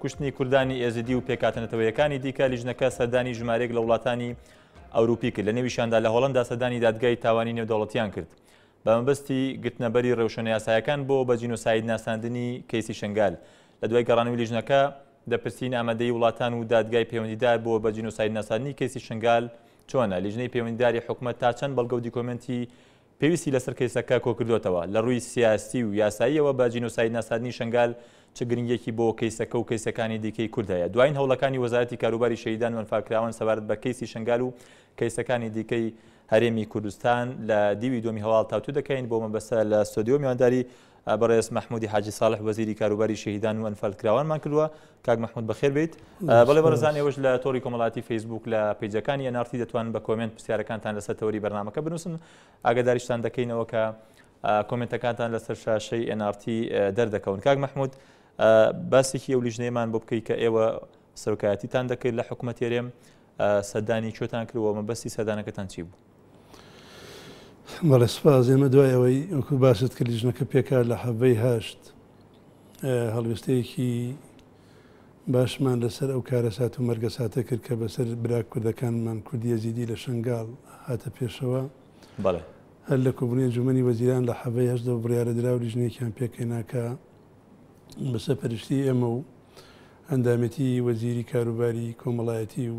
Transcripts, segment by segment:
کوشتنی کوردانی ئێزیدی و پێکهاتە نەتەوەیەکانی دیکە، لیژنەکە سەردانی ژمارەیەک لە وڵاتانی ئەوروپی کرد، لە نێویشیاندا لە هۆڵەندا سەردانی دادگای تاوانی نێودەوڵەتییان کرد بە مەبەستی گرتنەبەری ڕێوشوێنەیاسایەکان بۆ بە جینۆساید ناساندنی کەیسی شنگال. لە دوای گەڕانەوەی لیژنەکە، دەپرسین ئامادەیی وڵاتان و دادگای پەیوەندیدار بۆ بە جینۆسایدناساندنی کەیسی شنگال چۆنە؟ لیژنەی پەیوەندیداری حکومەت تا چەند بەڵگە و دیکۆمێنتی پێویستی لەسەر کەیسەکە کۆکردۆتەوە، لە رووی سیاسی و یاساییەوە بە جینۆساید ناساندنی شەنگال چ گرنگیەکی بۆ کەیسەکە و کەیسەکانی دیکەی کورد هەیە؟ دوایین هەوڵەکانی وەزارەتی کاروباری شەهیدان و ئەنفالکراوان سەبارەت بە کەیسی شەنگال و کەیسەکانی دیکەی هەرێمی کوردستان لە دیوی دووەمی هەواڵ تاوتوێ دەکەین بۆ مەبەستە لە ستۆدیۆ میوانداری بەڕێز مەحمودی حاجی ساڵح وەزیری کاروباری شەهیدان و ئەنفالکراوانمان کردووە کاک مەحمود بەخێر بێیت بەڵێ بەڕێزان ئێوەش لە تۆڕی کۆمەڵاتی فەیسبوک لە پیجەکانی ئەنارتی دەتوان بە کۆمنت پرسیارەکانتان لەسەر تەوەری بەرنمەکە بنووسن ئاگداریشتان دەکەینەوە کە کۆمنتەکانتان لەسەر شاشەی ئەنارتی دەردەکەون کاک مەحمود باسێکی ئەو لیژنەیەمان بۆ بکەیت کە ئێوە سەرکایەتیتان دەکرد لە حکوومەت تێرێم سەدانی کوێتان کردەوە مەبەستی سەدانەکەتان چی بوو؟ بەڵێ سپاس ئێمە دوای ئەوەی وەکو باست کرد لیژنەکە پێکا لە حەڤەی هەشت هەڵوێستەیەکی باشمان لەسەر ئەو کارە سات و مەرگە ساتە کرد کە بەسەر برا کوردەکانمان کوردیە زیدی لە شنگال هاتە پێشەوە بەڵێ هەر لە کوبنی جومنی وەزیران لە حەڤەی هەشتەوە بڕیاە درا و لیژنێکیان پێکەیناکە بەسە پەرشتی ئێمە و ئەندامەتی وەزیری کاروباری کۆمەڵایەتی و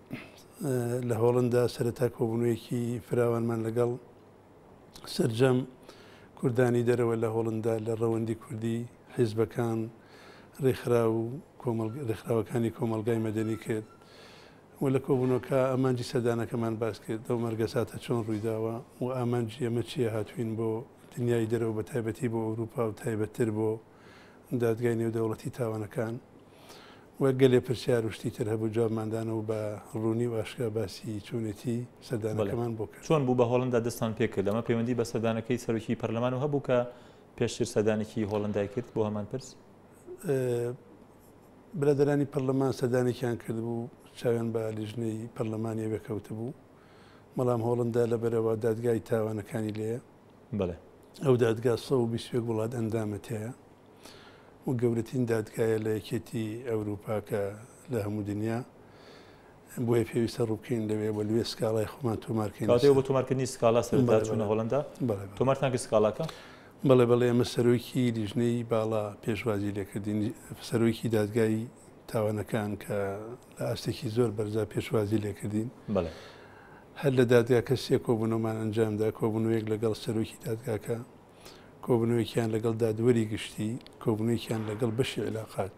لە هۆڵندا سەرەتا کۆبوونەوەیەکی فراوانمان لەگەڵ سرجەم کوردانی دەرەوە لە هۆڵندا لە ڕەوەندی کوردی حیزبەکان ڕێکخرا و ڕێکخراوەکانی کۆمەلگای مەدەنی کرد و لە کۆبوونەکە ئامانجی سەردانەکەمان باس کرد ئەو مەرگەساتە چۆن ڕوویداوە و ئامانجی ئەمە چیە هاتوین بۆ دنیای دەرەوە بە تایبەتی بۆ ئەوروپا و تایبەتتر بۆ دادگای نێودەوڵەتی تاوانەکان و گەلێ پرسیار و شتی تر هەبوو جوابمان دان و بە ڕوونی و ئاشکرا باسی چۆنێتی سەردانەکەمان بۆ کرد. چۆن بوو بە هۆڵەندا دەستتان پێ کرد؟ ئەمە پەیوەندی بە سەردانەکەی سەرۆکی پەرلەمان و هەبوو کە پێشتر سەردانێکی هۆڵەندای کرد بۆ هەمان پرس؟ برادەرانی پەرلەمان سەردانێکیان کردبوو چاویان بە لیژنەی پەرلەمانیەوە کەوتبوو بەڵام هۆڵندا لەبەرەوە دادگای تاوانەکانی لێ بەڵێ. ئەو دادگا سەد و بیست و یەک وڵات ئەندامە تێیا و گەورەترین دادگایە لە یەکێتی ئەوروپا کە لە هەموو دنیا بۆیە پێویستە ڕووکەین لەوێ بە لوێ سکاڵای خۆمان تۆمارکەین بۆ تۆمارکردنی سکاڵا سەرچوونە هۆڵندا تۆمارتان کرد سکاڵاکە بەڵێ بەڵێ ئەمە سەرۆکی لیژنەی باڵا پێشوازی لێکردین سەرۆکی دادگای تاوانەکان کە لە ئاستێکی زۆر بەرزا پێشوازی لێکردین هەر لە دادگاکە سێ کۆبوونەوەمان ئەنجامدا، کۆبوونەوەیەک لەگەڵ سەرۆکی دادگاکە، کۆبوونەوەیەکیان لەگەڵ دادوەری گشتی، کۆبوونەوەیەکیان لەگەڵ بەشی عیلاقات.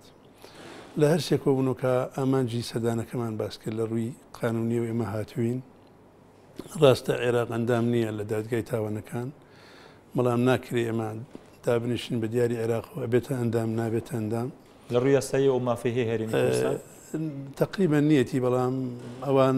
لە هەر سێ کۆبوونەوەکە ئامانجی سەردانەکەمان باس کرد، لە ڕووی قانوونییەوە ئێمە هاتووین، ڕاستە عێراق ئەندام نییە لە دادگای تاوانەکان، بەڵام ناکرێ ئێمە دابنیشین بە دیاری عێراقەوە ئەبێتە ئەندام، نابێتە ئەندام. لە ڕووی یاساییەوە ئەو مافەی هەیە هەرێمی کوردستان؟ تەقریبەن نییەتی، بەڵام ئەوان.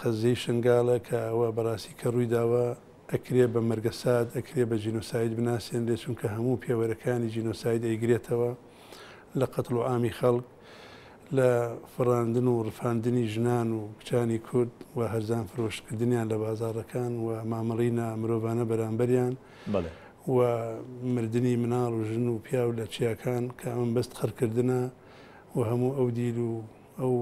قەزیەی شنگالە کە ئەوە بەراستی کە رویداوە ئەکرێ بە مەرگە سات ئەکرێ بە جینۆساید بناسێنرێ چونکە هەموو پێوەرەکانی جینۆساید ئەیگرێتەوە لە قەتڵ و ئامی خەڵک لە فڕاندن و رفاندنی ژنان و کچانی کورد و هەرزان فرۆش کردنیان لە بازاڕەکان و مامەڵەی نا مرۆڤانە بەرامبەریان و مردنی مناڵ و ژن و پیاو لە چیاکان کە ئەمە بەست قڕکردنە و هەموو ئەو دیل و ئەو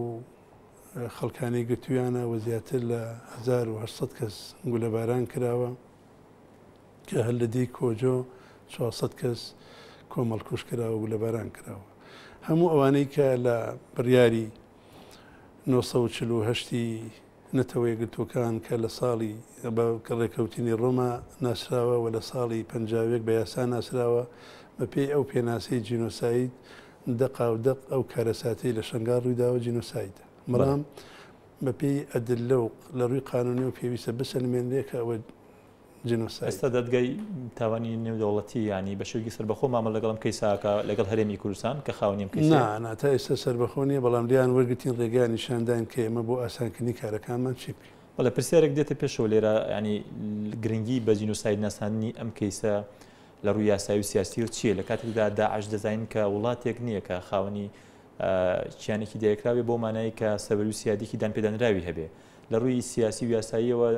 خەڵکانی گرتوویانە و زیاتر لە هەزار و هەشت سەد کەس گولەباران کراوە کە هەر لە دێی کۆجۆ چوار سەد کەس کۆمەڵکوژ کراوە و گولەباران کراوە هەموو ئەوانەی کە لە بڕیاری نۆ سەد و چل و هەشت ی نەتەوە یەکگرتووەکان کە لە ساڵی بە ڕێکەوتنی ڕۆما ناسراوە و لە ساڵی پەنجا و یەک بە یاسا ناسراوە بەپێی ئەو پێناسەی جینۆساید دەقا و دەق ئەو کارەساتەی لە شەنگال ڕوویداوە جینۆسایدە. بەڵام بە پێی ئەدللە و لە ڕووی قانوونیەوە پێویستە بسەلمێنرێ کە ئەوە جینۆسایدە. ئێستا دادگای تاوانی نێودەوڵەتی یانی بە شێوەکی سەربەخۆ مامەڵە لەگەڵ ئەم کەیسە ئەکا لەگەڵ هەرێمی کوردستان کە خاوەنی ئەم کەیسەیە؟ نا، نا تا ئێستا سەربەخۆ نیە بەڵام لێیان وەرگرتین ڕێگەیان نیشان داین کە ئێمە بۆ ئاسانکردنی کارەکانمان چی بکەین. بەڵێ پرسیارێک دێتە پێشەوە لێرە یانی گرنگی بە جینۆساید ناساندنی ئەم کەیسە لە ڕووی یاسایی و سیاسییەوە چییە، لە کاتێکدا داعش دەزانین کە وڵاتێک نییە کە خاوەنی کیانێکی دایکرا بێ بەو مانایەی کە سەروەری و سیادێکی دانپێدانراوی هەبێ. لە ڕووی سیاسی و یاساییەوە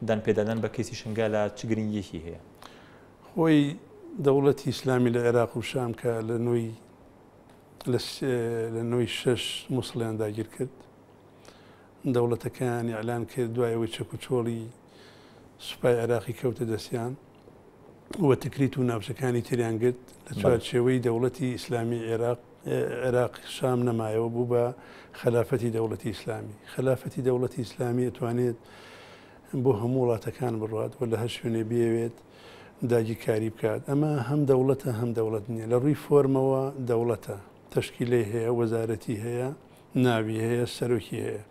دانپێدانان بە کەیسی شنگالە چ گرنگییەکی هەیە؟ خۆی دەوڵەتی ئیسلامی لە عێراق و شام کە لە نۆی لە نۆی شەش موسڵیان داگیر کرد، دەوڵەتەکەیان ئیعلان کرد، دوای ئەوەی چەکوچۆڵی سوپای عێراقی کەوتە دەستیان و تکریت و ناوچەکانی تریان گرت لە چوارچێوەی دەوڵەتی ئیسلامی عێراق عێراق شام نەمایەوە بوو بە خەلافەتی دەوڵەتی ئیسلامی خەلافەتی دەوڵەتی ئیسلامی ئەتوانێت بۆ هەموو وڵاتەکان بڕات و لە هەر شوێنێ بێوێت داگیرکاری بکات ئەمە هەم دەوڵەتە هەم دەوڵەت نییە لە ڕووی فۆرمەوە دەوڵەتە تشکیلەی هەیە وەزارەتی هەیە ناوی هەیە سەرۆکی هەیە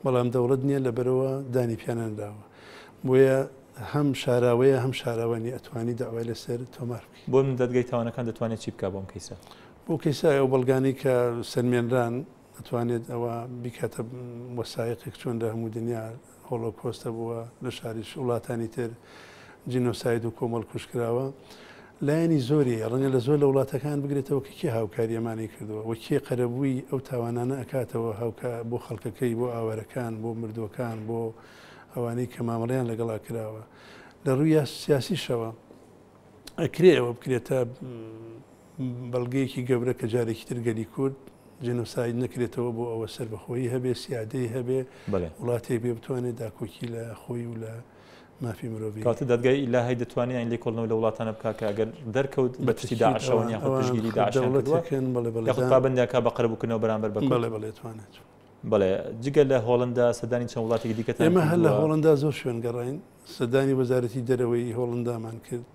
بەڵام دەوڵەت نیە لەبەرەوە دانی پیانەنراوە بۆیە هەم شاراوەیە هەم شاراوەنی ئەتوانی داوای لەسەر تۆمار بکەی. بۆ من دادگای تاوانەکان دەتوانێت چی بکات بۆم کەیسە؟ بۆ کەیسە ئەو بەڵگانەی کە سەلمێنران ئەتوانێت ئەوە بیکاتە وەسایەقێک چۆن لە هەموو دنیا هۆڵۆکۆستە بووە لە شاری وڵاتانی تر جینۆساید و کۆمەڵ کوژ کراوە لایەنی زۆری ڕەنگە لە زۆر لە وڵاتەکان بگرێتەوە کە کێ هاوکاری ئەمانی کردووە و کێ قەرەبووی ئەو تاوانانە ئەکاتەوە هاوکە بۆ خەڵکەکەی بۆ ئاوارەکان بۆ مردووەکان بۆ ئەوانەی کە مامەڵیان لەگەڵا کراوە لە ڕووی سیاسیشەوە ئەکرێ ئەوە بکرێتە بەڵگەیەکی گەورە کە جارێکی تر گەلی کورد جنۆساید نەکرێتەوە بۆ ئەوە سربەخۆی هەبێ سیادەی هەبێ وڵاتێک بێ بتوانێت داکۆکی لە خۆی و لە مافی مرۆڤی کاتە دەدگای لا هەی دەتوانین لێ کۆڵنەوە لە وڵاتانە بکە کە ئەگەر دەرکەوت بە پشتی داعشەوەنی پشگیری داعشەکەن پابندیاکە بە قەرە بکردنەوە بەرامبەر بە بەڵێ بڵێتوانێت بڵێ جگە لە هۆڵندا سەدانی چەند وڵاتێکی دیکە ئێمە هەر لە هۆڵندا زۆر شوێن گەڕین سەردانی وەزارەتی دەرەوەی هۆڵندامان کرد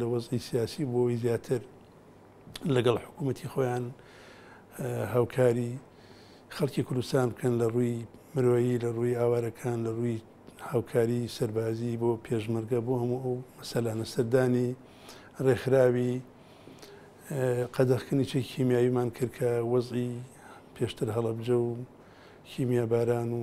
لە وەزعی سیاسی بۆ ئەوەی زیاتر لەگەڵ حکوومەتی خۆیان هاوکاری خەڵکی کوردستان بکەن لە ڕووی مرۆیی لە ڕووی ئاوارەکان لە ڕووی هاوکاری سەربازی بۆ پێشمەرگە بۆ هەموو ئەو مەسەلانە سەردانی ڕێکخراوی قەدەخکردنی چێکی کیمیاویمان کرد کە وەزی پێشتر هەڵەبجە و کیمیا باران و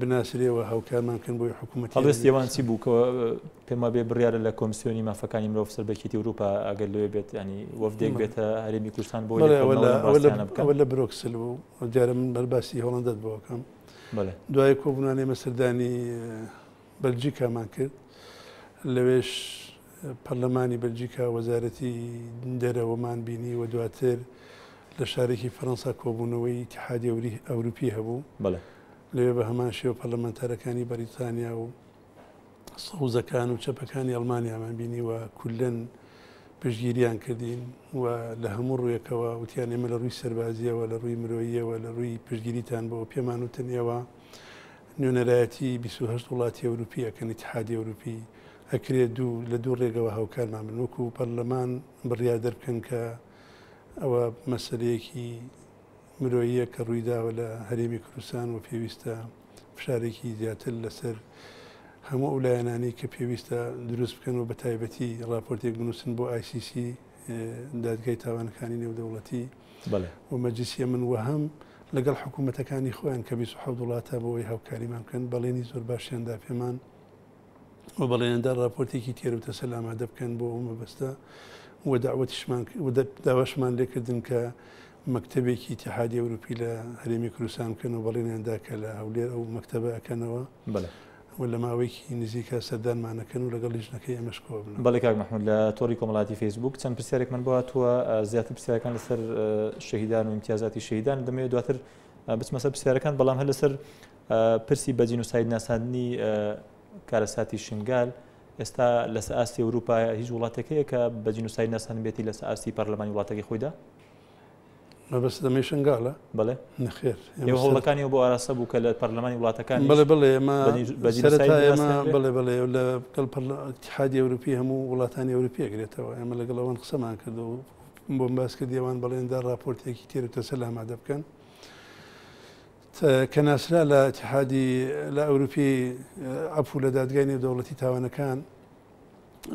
بناسرێ و هاوکارمان بکەن بۆی حکوومەتی ئەوێ. هەڵوێستی ئەوان چی بوو کە پێم وابێ بڕیارە لە کۆمسیۆنی مافەکانی مرۆڤ سەر بە یەکێتی ئەوروپا ئەگەر لەوێ بێت یانی وەفدێک بێتە هەرێمی کوردستان بۆ بەڵێ ئەوە لە ئەوە لە ئەوە لە برۆکسل بوو دیارە من بەر باسی هۆڵەندەت بۆ بکەم بەڵێ دوای کۆبوونانێ مە سەردانی بەلجیکامان کرد لەوێش پەرلەمانی بەلجیکا، وەزارەتی دەرەوەمان بینی و دواتر لە شارێکی فەرەنسا کۆبوونەوەی ئیتیحادی ئەوروپی هەبوو. لەوێ بە هەمان شێوە پەرلەمانتارەکانی بەریتانیا و سەوزەکان و چەپەکانی ئەڵمانیامان بینی و کوللەن پشتگیریان کردین و لە هەموو ڕوویەکەوە وتیان ئێمە لە ڕووی سەربازییەوە، لە ڕووی مرۆییەوە، لە ڕووی پشتگیریتان بۆ پێمان وتن ئێوە نوێنەرایەتی بیست و هەشت وڵاتی ئەوروپی ئەکەن، ئیتیحادی ئەوروپی ئەکرێ دوو لە دوو ڕێگەوە هاوکارمان بن وەکو پەرلەمان بڕیار دەربکەن کە ئەوە مەسەلەیەکی مرۆییە کە ڕوویداوە لە هەرێمی کوردستان و پێویستە فشارێکی زیاتر لەسەر هەموو ئەو لایەنانی کە پێویستە دروست بکەن و بە تایبەتی ڕاپۆرتێک بنووسن بۆ ICC دادگای تاوانەکانی نێودەوڵەتی بەڵێ و مەجلیسی ئەمن و هەم لەگەڵ حکوومەتەکانی خۆیان کە 26 وڵاتە بۆ ئەوی هاوکاریمان بکەن بەڵێنی زۆر باشیاندا پێمان و بەڵێنیاندا ڕاپۆرتێکی تێر و تەسەل ئامادە بکەن بۆ ئەو مەبەستە و داوەتیشمان و داواشمان لێکردن کە مەکتەبێکی اتحادی ئەوروپی لە هەرێمی کوردستان بکەن و بەڵێنیاندا کە لە هەولێر ئەو مەکتەبە ئەکەنەوە بەڵێ و لە ماوەیەکی نزیکە سەردانمانەکەن و لەگەڵ لیژنەکەی ئەمەش کۆ بن بەڵێ کاک محمود لە تۆڕی کۆمەڵاتی فەیسبوک چەند پرسیارێک من بواتوە زیاتر پرسیارەکان لەسەر شەهیدان و امتیازاتی شەهیدان دەمەوێت دواتر بچمەسەر پرسیارەکان بەڵام هەر لەسەر پرسی بە جینۆساید ناساندنی کارەساتی شنگال ئێستا لەسە ئاستی ئەوروپا هیچ وڵاتەکەیە کە بە جینۆساید ناسان بێتی لەسە ئاستی پەرلەمانی وڵاتەکەی خۆیدا مەبەست دەمەی شنگالە بڵێ نخێر هەوڵەکانی بۆ ئاراستە بوو کە لە پەرلەمانی وڵاتەکان بڵێ بڵێ ئێمە بڵێ بڵێ لە کەڵ حادی ئەوروپی هەموو وڵاتانی ئەوروپی گرێتەوە ئێمە لەگەڵ ئەوان قسەمان کردو بۆم باس کردیوان بەڵێندا راپۆرتێکی تێرو تەسە لامادە بکەن کە ناسرا لە ئیتیحادی لە ئەوروپی عەفو لە دادگای نێودەوڵەتی تاوانەکان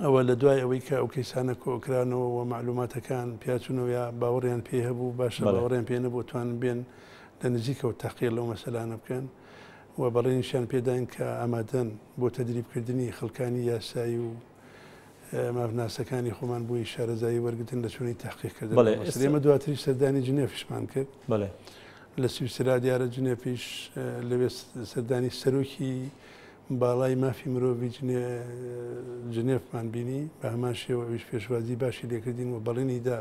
ەوە لە دوای ئەوەی کە ئەو کەیسانە کۆکرانەوە و مەعلوماتەکان پیاچونەوە یا باوەڕیان پێی هەبوو باشە بەڵێ. باوەڕیان پێ نەبوو توانن بێن لە نزیکەوە تەقیە لەو مەسەلانە بکەن و بەڵێنیشیان پێداین کە ئامادەن بۆ تەدریبکردنی خەڵکانی یاسایی و مافناسەکانی خۆمان بووی شارەزایی وەرگتن لە چۆنی تحقیق کردن بەڵێ ئێمە دواتریش سەردانی جنێفیشمان کرد بەڵێ لە سویسرا دیارە جنێفیش لەوێ سەردانی سەرۆکی باڵای مافی مرۆڤی جنێفمان بینی بە هەمان شێوەویش پێشوازی باشی لێکردین و بەڵێنی دا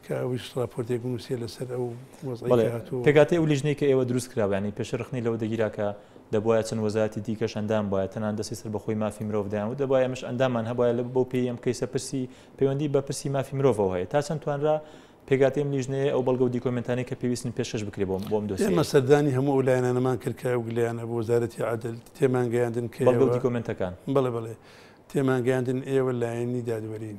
کە ئەویش ڕاپۆرتێک بنووسێ لەسەر ئەو وەزعەی کە هاتووە. بەڵێ، پێکهاتەی ئەو لیژنەی کە ئێوە دروست کرابوو، یانی پێشتر ڕەخنەی لەوە دەگیرا کە دەبوایە چەند وەزارەتی دیکەش ئەندام بوایە، تەنانەت دەستەی سەربەخۆی مافی مرۆڤ دەیانوت دەبوایە ئێمەش ئەنداممان هەبوایە، لە بەو پێیەی ئەم کەیسە پرسی پەیوەندی بە پرسی مافی مرۆڤەوە هەیە، تا چەند توانرا پێکهاتەی ئەم لیژنەیە ئەو بەڵگە و دیکۆمێنتانەی کە پێویستن پێشکەش بکرێ بۆ ئەم دۆسیەیە؟ ئێمە سەردانی هەموو ئەو لایەنانەمان کرد کە ئەو گلەیانە بۆ وەزارەتی عەدل، تێمانگەیاندن کە ئێوە. بەڵگە و دیکۆمێنتەکان. بەڵێ بەڵێ، تێمانگەیاندن ئێوە لایەنی دادوەرین.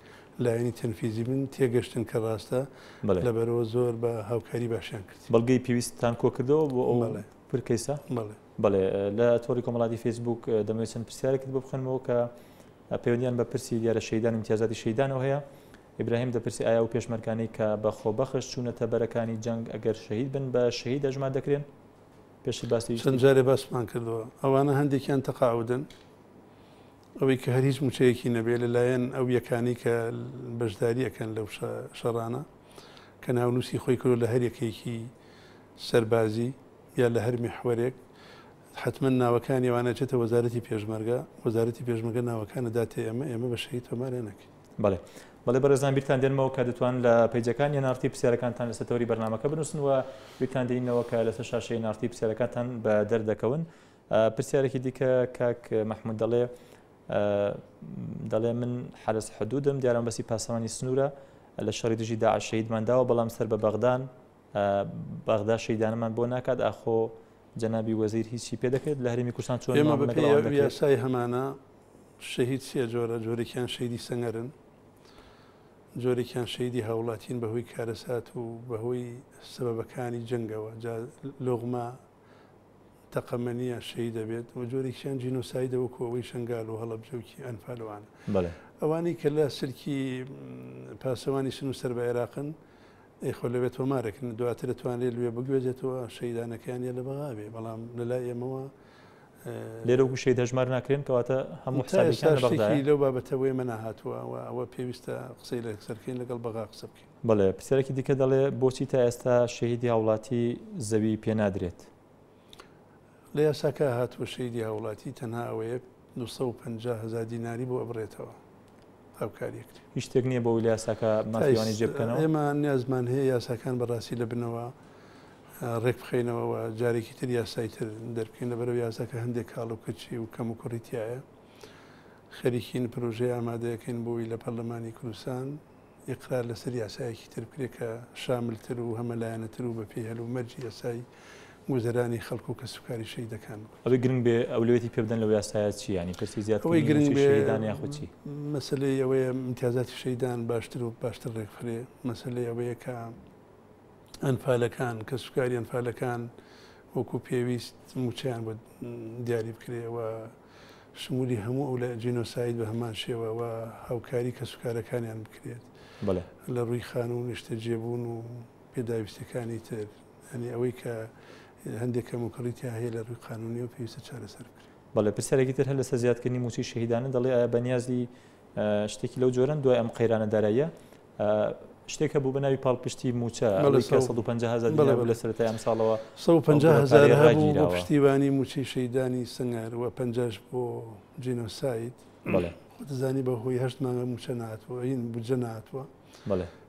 لایەنی تەنفیزی بن، تێگەشتن کە ڕاستە، لەبەرئەوە زۆر بە هاوکاری باشیان کرد. بەڵگەی پێویستتان کۆکردەوە بۆ ئەو پر کەیسە؟ بەڵێ. بەڵێ، لە تۆڕی کۆمەڵاتی فەیسبووک دەمەوێت چەند پرسیارێکت بۆ بخوێنمەوە کە پەیوەندییان بە پرسی دیارە شەهیدان و ئیمتیازاتی شەهیدانەوە هەیە. ئیبراهیم دەپرسێ ئایا ئەو پێشمەرگانەی کە بە خۆبەخش چوونەتە بەرەکانی جەنگ ئەگەر شەهید بن بە شەهید ئەژمار دەکرێن؟ پێشتر باس لێی چەند جارێ باسمان کردووە. ئەوانە هەندێکیان تەقاعودن، ئەوەی کە هەر هیچ موچەیەکی نەبێ لە لایەن ئەو یەکانەی کە بەشداری ئەکەن لەو شەڕانە کە ناونووسی خۆی کردو لە هەر یەکێکی سەربازی یا لە هەر میحوەرێک حتمما ناوەکانی ئەوانە چێتە وەزارەتی پێشمەرگە وەزارەتی پێشمەگە ناوەکانە داتێ ئێمە ئێمە بە شەهید تۆمارێ نەکەین بڵێ بەڵێ بەرزان بیرتان دێنمەوە کە دەتوان لە پیجەکانی نارتی پرسیارەکانتان لەسەر تەوری بەرنمەکە بنووسن و بیرتان دێنینەوە کە لەسەر شاشەی نارتی پرسیارەکانتان بە دەردەکەون پرسیارێکی دیکە کاک مەحمود دەڵێ دەڵێ من حرس حدودم دیارم بەسی پاسەوانی سنوورە لە شەڕی دژی دا شەیدمان داوە بەڵام سەر بە بەغدان بەغدا شەیدانەمان بۆ ناکات ئاخۆ جەنابی وەزیر هیچی پێ دەکرێت لە هەرمی کوردستان چۆن یاسای هەمانە شەهید سێ جۆرە جۆرێکیان شەیدی سەنگەرن جۆرێکیان شەیدی هاوڵاتین بەهۆی کارەسات و بەهۆی سەبەکانی جنگەوە لغمە تەقەمەنیە شەهیدە بێت و جۆرێکیان جینۆسایدە وەکو ئەوەی شنگال و هەڵەبجەوکی ئەنفالوان ئەوانی کە لە سلکی پاسەوانی سن و سەر بە عێراقن ئەیخۆ لەوێت تۆمارەکن دواتر توانێت لێ بگوێزێتەوە شەیدانەکانیان لە بەغاوێ بەڵام لەلا ئێمەوە لێرە و گوشەی دەژمار ناکرێن کەواتە هەموو ساشتێکی لەو بابەتەوەی منە هاتووە ئەوە پێویستە قسەی لە سەرکەین لەگەڵ بەغا قسە بکەین بەڵێ، پرسیارێکی دیکە دەڵێ بۆچی تا ئێستا شەهیدی هاوڵاتی زەوی پێ نادرێت؟ لە یاساکە هاتووە شەیدی هاوڵاتی تەنها ئەوەیە 250 هزار دیناری بۆ ئەبرێتەوە هاوکاریەکری هیچ شتێک نییە بۆ یاساکە مافیوانی جێبکەنەوە ئێمە نیازمان هەیە یاساکان بەڕاستی لە بنەوە ڕێک بخینەوەەوە جارێکی تر یاسای تر دەرکەین لە بەرەو یاساکە هەندێک کاڵ و کچی و کەم و کوڕیتیایە خەریکین پرۆژەی ئامادەەکەین بۆی لە پەرلەمانی کوردستان ئیقرار لەسەر یاسایەکی تر بکرێت کە شاملتر و هەمەلایەنەتر و بەپێی هەلومەرجی یاسایی گوزەرانی خەڵک و کەسوکاری شەهیدەکان بوو. ئەوەی گرنگ بێ ئەولەویەتی پێ بدەن لەو یاسایە چییە؟ یانی پرسی زیادکردنی مووچەی شەهیدان یاخود چی؟ ئەوەی گرنگ بێ مەسەلەی ئەوەیە ئیمتیازاتی شەهیدان باشتر و باشتر رێکبخرێ، مەسەلەی ئەوەیە کە ئەنفالەکان، کەسوکاری ئەنفالەکان وەکو پێویست مووچەیان بۆ دیاری بکرێ و شمولی هەموو ئەو لە جینۆساید بە هەمان شێوە و هاوکاری کەسوکارەکانیان بکرێت لە ڕووی خانوو و نیشتەجێبوون و پێداویستیەکانی تر یانی ئەوەی کە هەندێک کەموکوڕی تیا هەیە لە ڕووی قانونیەوە پێویستە چارەسەر بکرێت. بەڵێ پرسیارێکی تر هەر لەسەر زیادکردنی مووچەی شەهیدانە دەڵێ ئایا بەنیازی شتێکی لەو جۆرەن دوای ئەم قەیرانە داراییە شتێک هەبوو بە ناوی پاڵپشتی موچە لە سەرای ئەم ساڵەوە پشتیوانی موچەی شەیدانی سنگەر و پنجش بۆ جینۆساید دەزانی بە هۆی هەشت مانگە موچە ناتوە ئەین بجە ناتوە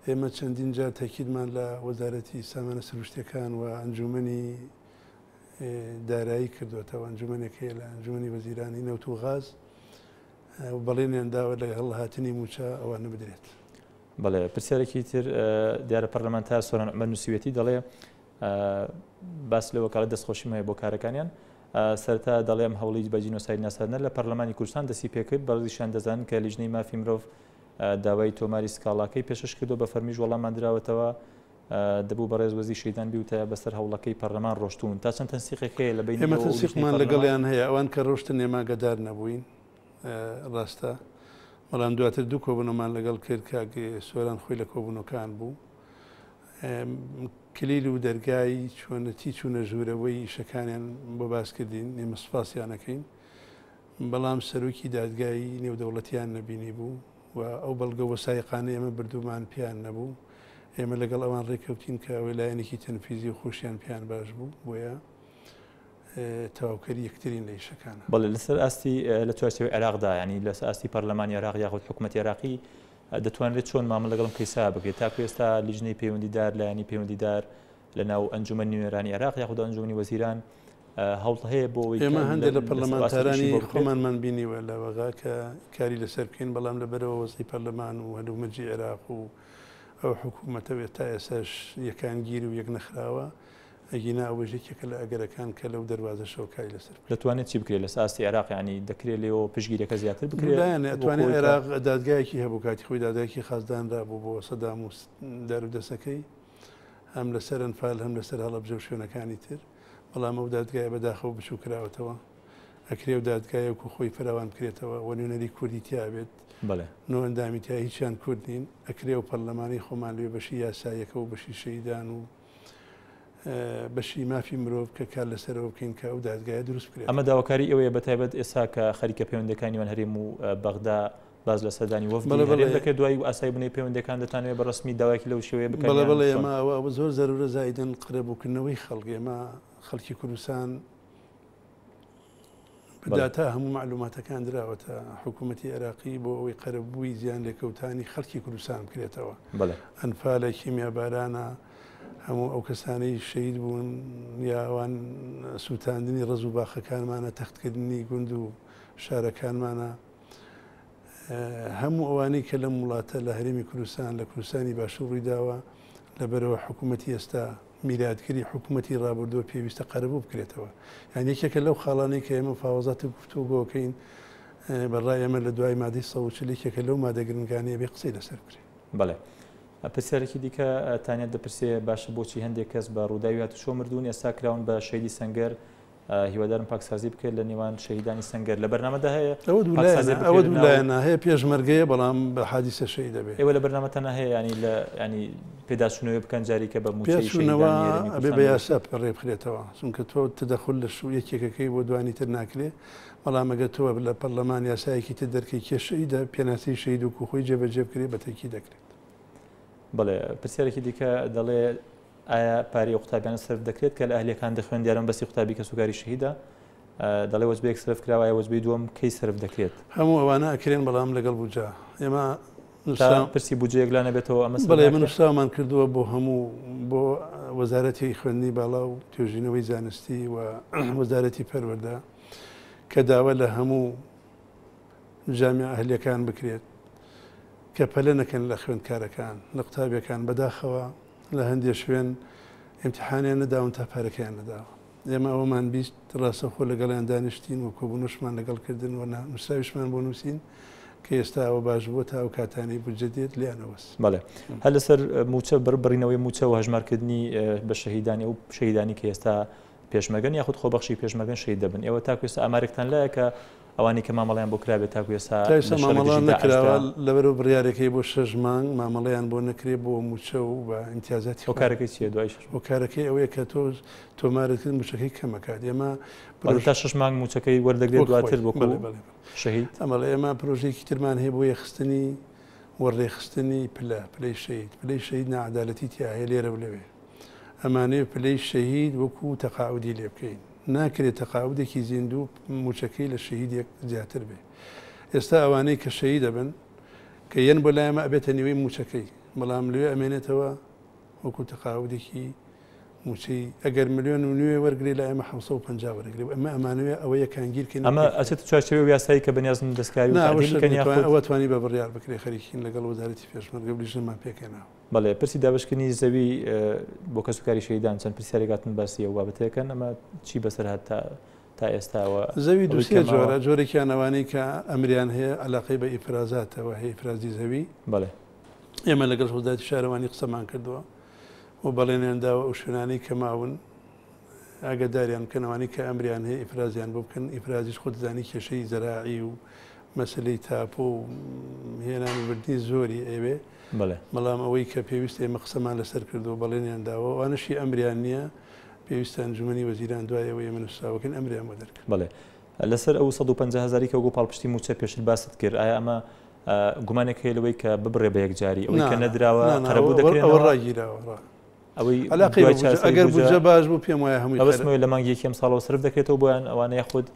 ئێمە چەندین جار تەکیدمان لە وەزارەتی سامانە سروشتەکان و ئەنجومنی دارایی کردوێتەوە ئەنجومنێک هەیە لە ئەنجومی وەزیرانی نەوت و غاز و بەڵێنیان داوە لەگەڵ هاتنی مووچە ئەوانە بدرێت. بەڵێ پرسیارێکی تر دیارە پەرلەمانتار سۆران عومەر نووسیوێتی دەڵێ باس لەوە کاڵە دەستخۆشیم هەیە بۆ کارەکانیان سەرتا دەڵێم هەوڵی بە جینۆساید ناساردنە لە پەرلەمانی کوردستان دەستی پێکرد بەڕزیشان دەزانن کە لیژنەی مافی مرۆڤ داوای تۆماری سکاڵاکەی پێشش کردو بە فەرمیش وەڵامان دراوەتەوە دەبوو بەڕێز وەزی شەیدان بیوتایە بەسەر هەوڵەکەی پەرلەمان ڕۆشتوون تا چەند تەنسیقێک هەیە لە بەینی ئێوە و ئێمە تەنسیقمان لەگەڵیان هەیە ئەوان کە ڕۆشتن ئێمە ئاگەدار نەبووین ڕاستە بەڵام دواتر دوو کۆبوونەمان لەگەڵ کرد کاک سۆران خۆی لە کۆبوونەکان بوو کلیل و دەرگای چۆنەتی چوونە ژوورەوەی ئیشەکانیان بۆ باس کردین ئێمە سپاسیانەکەین بەڵام سەرۆکی دادگای نێودەوڵەتیان نەبینی بوو و ئەو بەڵگە وەسایقانەی ئێمە بردوومان پێیان نەبوو، ئێمە لەگەڵ ئەوان ڕێککەوتین کە ئەوەی لایەنێکی تەنفیزی و خۆشیان پێیان باش بوو، بۆیە تەواوکەری یەکترین لە ئیشەکانە. بەڵێ لەسەر ئاستی لە چوارچێوەی عێراقدا یانی لەسەر ئاستی پەرلەمانی عێراق یاخود حکومەتی عێراقی دەتوانرێت چۆن مامەڵە لەگەڵ ئەم کەیسە بکرێت تاکو ئێستا لیژنەی پەیوەندیدار لایەنی پەیوەندیدار لە ناو ئەنجومەنی نوێنەرانی عێراق یاخود ئەنجومەنی وەزیران هەوڵ هەیە بۆ ئەوەی ئێمە هەندێک لە پەرلەمانتارانی خۆمانمان بینیوە لە وەغا کە کاری لەسەر بکەین بەڵام لەبەرەوە وەزی پەرلەمان و هەلومەرجی عێراق و ئەو حکوومەتە و ئێستا ئێسش یەکانگیر و یەک نەخراوە ئەگینا ئەوە یەکێکە لە ئەگەرەکان کە لەو دەواازە شەوکاری لەسەر دەتوانێت چی بکرێت لە ساستی عێراقیانی دەکرێت لێەوە پشگیرەکە زیاتر بکرێت ئەتوانێت عێراق دادگایەکی هەبوو کاتی خۆی دادایکی خازدانرا بوو بۆ سەدام و دەرودەسەکەی هەم لەسەر ئەنفال هەم لەسەر هەڵەبجە و شوێنەکانی تر بەڵام ئەو دادگایە بەداخەوە بچوو کراوەتەوە ئەکرێ و دادگایە و خۆی فراوان بکرێتەوە و نوێنەری کوردی تیاابێت نۆ ئەندامی تیا هیچیان کورد نین ئەکرێ و پەرلەمانی خۆمان لێ بەشی یاسایەکە و بەشی شەیدان و بەشی مافی مرۆڤ کە کار لەسەرەوە بکەین کە ئەو دادگایە دروست بکرێت ئەمە داواکاری ئەوەیە بە تایبەت ئێسا کە خەریکە پەیوەندەکانی من هەرێم و بەغدا باس لە سەردانی وەفدی هەرێم دەکرێت دوای ئاسایی بونەوەی پەیوەندیەکان دەتانەوێت بە رەسمی داوایەکی لەو شێوەیە بکەن یان چۆن؟ بەڵێ بەڵێ ئەمە ئەوە زۆر زەرورە زائیدەن قەرەبوو کردنەوەی خەڵک ئێمە خەڵکی کوردستان بە داتا هەموو مەعلوماتەکان دراوەتە حکوومەتی عێراقی بۆ ئەوەی قەرەبووی زیان لێکەوتانی خەڵکی کوردستان بکرێتەوە ئەنفالە کیمیا بارانە هەموو ئەو کەسانی شەید بوون یاوان سووتاندنی ڕز و باخەکانمانە تەختکردنی گوند و شارەکانمانە هەموو ئەوانەی کە لەم وڵاتە لە هەرێمی کوردستان لە کوردستانی باشوور ڕوویداوە لە بەرەوە حکوومەتتی ئێستا میراتگری حکوومەتتی ڕابردووە پێویستە قەرەبوو بکرێتەوە یان یەکێکە لەو خاڵانەی کە ئێمە پاوەزاتی گفتوگۆکەین بەڕای ئەمە لە دوای مادەی سەوچلێکێکە لەو مادەگرنگانەیە بێ قسەی لەسەر بکرێت بڵێ. پرسیارێکی دیکە تانیت دەپرسێ باشە بۆچی هەندێک کەس بە ڕووداوی هاتوچۆ مردوون ئێستا کراون بە شەیدی سەنگەر هیوادارم پاکسازی بکرێت لە نێوان شەهیدانی سەنگەر لە بەرنامەدا هەیە ئەوە دوو پاکسازی لایەنە ئەوە بکرێت دوو لە ناو- لایەنە هەیە پێشمەرگەیە بەڵام بە حادیسە شەهید دەبێ ئێوە لە بەرنامەتانە هەیە ینی لە ینی پێداچوونەوەی بکەن جاریکە بە مووچەی پێچوونەوە شەهیدانی هەرێمی ئەبێ بە کوردستان یاسا پڕێ بخرێتەوە چونکە تۆ تدەخل لە شوو یەکێکەکەی بۆ دوانی تر ناکرێ بەڵام ئەگەر تۆ لە پەرلەمان یاسایەکی تر دەرکەی کێ شەهیدە پێناسەی شەهید وکو خۆی جێبەجێ بکرێ بە تەکی دەکرێت بڵێ پرسیارێکی دیکە دەڵێ ئایا پارەی ئەو قوتابیانە سەرف دەکرێت کە لە ئەهلیەکان دەخوێن دیارم بەسی قوتابی کە سوکاری شەهیدا دەڵێ وەجبەیەک سرف کراوە ئایا وەجبەی دووەم کەی سرف دەکرێت هەموو ئەوانە ئەکرێن بەڵام لەگەڵ بوجا ئێمە پرسی بجەیەک لا نەبێتەوە ئەمە بڵێ من سامان کردووە بۆ هەموو بۆ وەزارەتی خوێندنی باڵا و توێژینەوەی زانستی و وەزارەتی پەروەەردە کە داوا لە هەموو جامی ئەهلیەکان بکرێت کە پەلە نەکەن لە خوێندکارەکان لە قوتابیەکان بەداخەوە لە هەندێ شوێن ئیمتیحانیان نەداون تا پارەکەیان نەداوە. ئێمە ئەوەمان بیست ڕاستەوخۆ لەگەڵیان دانیشتین و کۆبوونەوشمان لەگەڵ کردن و نووسراویشمان بۆ نووسین کە ئێستا ئەوە باش بووە تا ئەو کاتانەی بودجە دێت لێیان ئەوەست. بەڵێ. هەر لەسەر مووچە بڕ بڕینەوەی مووچە و هەژمارکردنی بە شەهیدانی ئەو شەهیدانی کە ئێستا پێشمەرگەن یاخود خۆبەخشی پێشمەرگەن شەهید دەبن ئێوە تاکو ئێستا ئامارێکتان لایە کە ئەوانەی کە مامەڵەیان بۆ کرابێت تاکو ئێستا تا ئێستا مامەڵە نەکراوە لەبەرو بڕیارەکەی بۆ شەش مانگ مامەڵەیان بۆ نەکرێ بۆ موچە و بە ئیمتیازاتی خۆ کارەکەی چیە دوای شەش مانگ کارەکەی ئەوەیە کە تۆ تۆمارت کرد موچەکەی کەمەکات ئێمە بەڵێ تا شەش مانگ موچەکەی وەردەگرێت دواتر بۆ کۆڵ شەهید ئەمەڵە ئێمە پرۆژێکی ترمان هەیە بۆ یەخستنی وەڕێخستنی پلە پلەی شەهید پلەی شەهید ناعەدالەتی تیا هەیە لێرە و لەوێ ئەمانەوێ پلەی شەهید وەکو تەقاعودی لێ بکەین ناکرێ تەقاعودێکی زیندوو موچەکەی لە شەهیدێک زیاتر بێ ئێستا ئەوانەی کە شەهید دەبن کە یەن بۆ لای ئەمە ئەبێتە نیوەی موچەکەی بەڵام لێ ئەمێنێتەوە وەکو تەقاعودێکی موچەی ئەگەر ملیۆن و نوێ وەرگری لە ئێمە 1950 وەرگری ئەمە ئەمانوێ ئەوە یەکانگیرکە ئەمە ئەچێت چاچەوە یاسایی کە بەنیازن دەستکاری ئەوە توانی بە بڕیار بکرێ خەریکین لەگەڵ وەزارەتی پێشمەرگە بلیژنەمان پێکەناوە بەڵێ پرسی دابشکردنی زەوی بۆ کەسوکاری شەیدان چەند پرسیارێک هاتن باسی ئەو بابەتەکەن ئەمە چی بەسەر هات تا تا ئێستاوە زەوی دووسێ جۆرە جۆرێکیان ئەوانەی کە ئەمریان هەیە علاقەی بە ئیفرازاتەوە هەیە ئیفرازی زەوی بەڵێ ئێمە لەگەڵ هۆزاتی شارەوانی قسەمان کردووە و بەڵێنیان داوە ئەو شوێنانەی کە ماون ئاگاداریان بکەنەوانی کە ئەمریان هەیە ئیفرازیان بۆ بکەن ئیفرازیش خۆتزانی کێشەی زەراعی و مەسلەی تاپۆ و هێنانی بردنی زۆری ئەوێ بەڵێ. بەڵام ئەوەی کە پێویستە ئێمە قسەمان لەسەر کردووە بەڵێنیان داوە ئەوانەشی ئەمریان نییە پێویستە ئەنجومەنی وەزیران دوای ئەوەی ئێمە نوسراوە بکەین ئەمریان بۆ دەرکەن. بەڵێ. لەسەر ئەو سەد و پەنجا هەزاری کە وەکو پاڵپشتی مووچە پێشتر باست کرد ئایا ئەمە گومانێک هەیە لەوەی کە ببڕێ بە یەکجاری ئەوەی کە نەدراوە قەرەبوو دەکرێت؟ ئەوە ڕاگیراوە. ئەوەی عەلاقەی بە ئەگەر بودجە باش بوو پێم وایە هەمووی. ئەوە سمۆی لە مانگی یەکەم ساڵەوە سەرف دەکرێتەوە بۆیان ئەوانە یاخود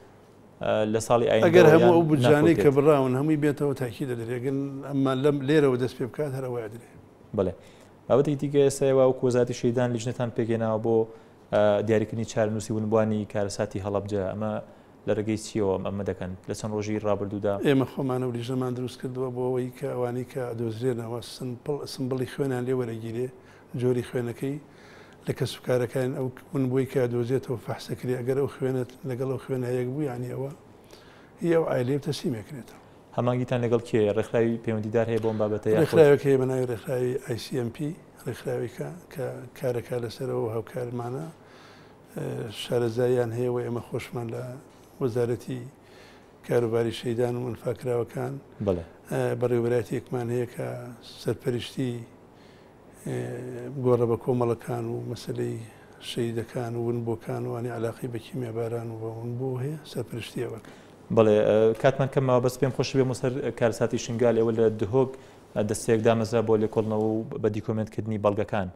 لە ساڵی ئایندەوە یان ناکەوتێت. ئەگەر هەموو ئەو بودجانەی کە بڕاون هەمووی بێتەوە تاکید ئەدرێ، ئەگەر ئەمما لەم لێرەوە دەست پێ بکات هەر ئەوە ئەدرێ. بەڵێ. بابەتێکی دیکە ئێستا ئێوە وەکو وەزارەتی شەهیدان لیژنەتان پێکهێناوە بۆ دیاریکردنی چارەنووسی ونبووانی کارەساتی هەڵەبجە، ئەمە لە ڕێگەی چییەوە ئەمە دەکەن لە چەند ڕۆژی ڕابردوودا؟ ئێمە خۆمان ئەو لیژنەمان دروست کردووە بۆ ئەوەی کە ئەوانەی کە دۆزرێنەوە سمپڵی خوێنیان لێ وەرەگیرێ، جۆری خوێنەکەی لە کەس و کارەکان ئەو ون بۆی کە دۆزێتەوە فەحس دەکرێت ئەگەر ئەو خوێنەت لەگەڵ ئەو خوێنە هەیەک بوو یعنی ئەوە هی ئەو عایلەیە و تەسلیمی کرێتەوە. هەمانگیتان لەگەڵ کێیە؟ ڕێکخراوی پەیوەندیدار هەیە بۆ ئەم بابەتە یاخود؟ ڕێکخراوێک هەیە بە ناوی ڕێکخراوی ئای سی ئێم پی، ڕێکخراوێکە کە کار دەکات لەسەرەوە و هاوکارمانە، شارەزاییان هەیە و ئێمە خۆشمان لە وەزارەتی کاروباری شەیدان و ئەنفالکراوەکان بەڕێوەبەرایەتییەکمان هەیە کە سەرپەرشتی گۆڕە بە کۆمەڵەکان و مەسەلەی شەیدەکان و ونبووەکان و ئەنی عەلاقەی بە کیمیاباران و بە ونبوو هەیە سەرپەرشتی ئەوە کەن. بەڵێ کاتمان کەم ماوە بەس پێم خۆشە بێمە سەر کارەساتی شنگال ئێوە لە دهۆک دەستەیەک دامەزرا بۆ لێکۆڵنەوە و بە دیکۆمێنت کردنی بەڵگەکان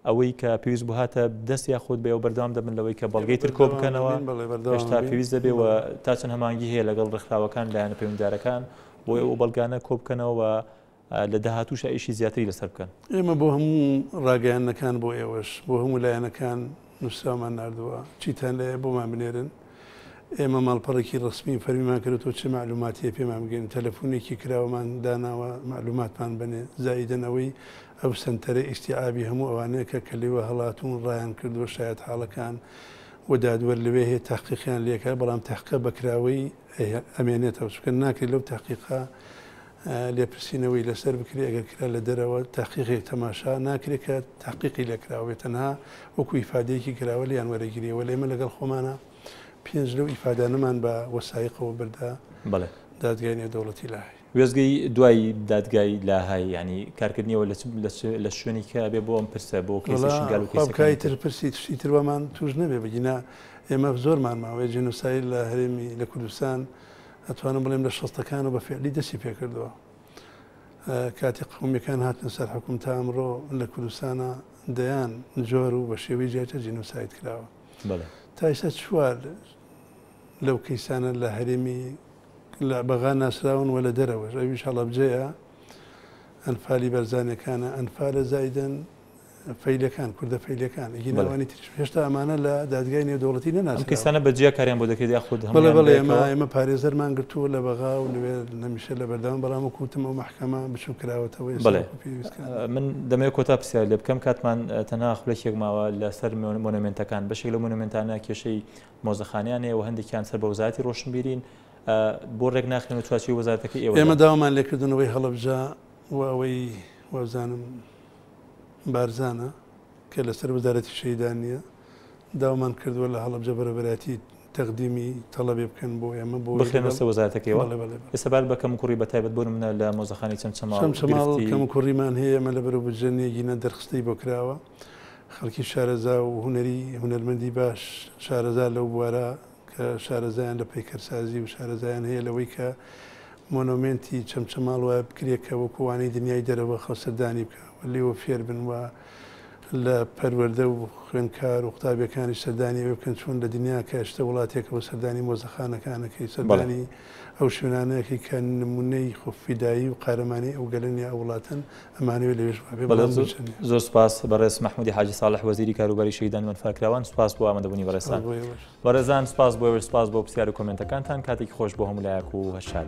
ئەوەی کە پێویست بوو هاتە دەست یاخود بەێوە بەردەوام دەبن لەوەی کە بەڵگەی تر کۆ بکەنەوە هێشتا پێویست دەبێ و تا چەند هەمانگی هەیە لەگەڵ ڕێکخراوەکان لایەنە پەیوەنددارەکان بۆ ئێوە بەڵگانە کۆ بکەنەوە لە داهاتووشا ئیشی زیاتری لەسەر بکەن. ئێمە بۆ هەموو ڕاگەیاندنەکان بۆ ئێوەش بۆ هەموو لایەنەکان نووسراومان ناردووە، چیتان لایە بۆمان بنێرن، ئێمە ماڵپەڕێکی ڕەسمی فەرمیمان کردووە چ مەعلووماتییە پێمان بگەێنن، تەلەفونێکی کراوەمان داناوە مەعلووماتمان بەنێ، زائیدەن ئەوەی ئەو سەنتەرە ئیستیعابی هەموو ئەوانەیە کە کە لێوە هەڵاتوون ڕایان کردووە شایەتحاڵەکان و دادوەر لەوێ هەیە تەحقیقیان لێ کات، بەڵام تەحقیقە بەکراوەی ئەمێنێتەوە چونکە ناکرێت لەو تەحقیقە لێپرسینەوەی لەسەر بکرێ ئەگەر کرا لە دەرەوە تەحقیقێک تەماشا ناکرێ کە تەحقیقی لێ کراوە بێ تەنها وەکو ئیفادەیەکی کراوە لێیان وەرەگیرێ وەلێ ئێمە لەگەڵ خۆمانا پێنج لەو ئیفادانەمان بە وەسایقەوە بردە بەڵێ دادگای نێودەوڵەتی لاهەی وێزگەی دوای دادگای لاهای ینی کارکردنیەوە لە شوێنێکە بێ بۆ ئەم پرسە بۆ کەسەکانی تر پرسی تشتی تروامان توش نەبێ بگینا ئێمە زۆرمان ماوەیە جنوسایی لە هەرێمی لە کوردستان ئەتوانم بڵێم لە شەستەکانەوە بە فعلی دەستی پێکردەوە کاتی قومیەکان هاتنە سەر حکوم تا ئەمڕۆ لە کوردستانە دەیان جۆر و بە شێوەی جیاجە جینۆسایت کراوە تایسە چوار لەو کەیسانە لە هەرێمی لە بەغا ناسراون و لە دەرەوەش ئەویش هەڵەبجەیە ئەنفالی بەرزانەکانە ئەنفالە زایدن فەیلیەکان، کوردە فەیلیەکان، ئیگینا وانی تریش، هێشتا ئەمانە لە دادگای نێودەوڵەتی نەناسراون. ئەم کەیسانە بە جیا کاریان بۆ دەکرێت یا خود هەموویان بەیەکەوە؟ بەڵێ بەڵێ، ئێمە پارێزەرمان گرتووە لە بەغا و نوێ نەمیشە لە بەردەوام، بەڵام وەکو وتم ئەو مەحکەمە بچووک کراوەتەوە ئێستا وەکو پێویست کار ناکات. من دەمەوێت کۆتا پرسیار لێ بکەم، کاتمان تەنها خولەکێک ماوە، لە سەر مۆنۆمێنتەکان، بەشێک لەو مۆنۆمێنتانە کێشەی مۆزەخانەیان هەیە و هەندێکیان سەر بە وەزارەتی ڕۆشنبیرین، بۆ ڕێک ناخرێن و چوارچێوەی وەزارەتەکەی ئێوە دەن؟ ئێمە داوامان لێ کردنەوەی هەڵەبجە و ئەوەی وابزانم، بارزانە کە لەسەر وەزارەتی شەهیدانە، داوامان کردووە لە هەڵەبجە بەرەبەرایەتی تەقدیمی تەڵەبێ بکەن بۆ ئێمە بۆ ئەوەی بخرێنە لەگەڵ سەر وەزارەتەکەیەوە؟ بەڵێ بەڵێ بەڵێ. ئێستا بار بە کەموکوڕی بە تایبەت بۆ نمونە لە مۆزەخانەی چەمچەماڵ چەمچەماڵ گرفتی کەموکوڕیمان هەیە، ئێمە لە بەرو بودجە نێگینە دەرخستەی بۆ کراوە، خەڵکی شارەزا و هونەری هونەرمەندی باش شارەزا لەو بوارە کە شارەزایان لە پەیکەرسازی و شارەزایان هەیە لەوەی کە مۆنۆمێنتی چەمچەماڵ وایە بکرێ کە وەکو وانەی دنیای دەرەوە خەڵک سەردانی بکا و لێوە فێر بن و لە پەروەردە و خوێندکار و قوتابیەکانیش سەردانی ئەوێ بکەن چۆن لە دنیا کە شتە وڵاتێکەوە سەردانی مۆزەخانەکانەکەی سەردانی ئەو شوێنانەکەی کە نمونەی خۆ فیدایی و قارەمانی ئەو گەلەن یا ئەو وڵاتەن ئەمانەوێت لەوێش وابێ بەڵام بچن زۆر سپاس بەڕێز مححمودی حاجی ساڵح وەزیری کاروباری شەیدان وەنفاکراوان سپاس بۆ ئامادەبوونی بەڕێسان بەڕێزان سپاس بۆ سپاس بۆ پرسیار و کۆمنتەکانتان کاتێکی خۆش بۆ هەموو لایەک و هەشار.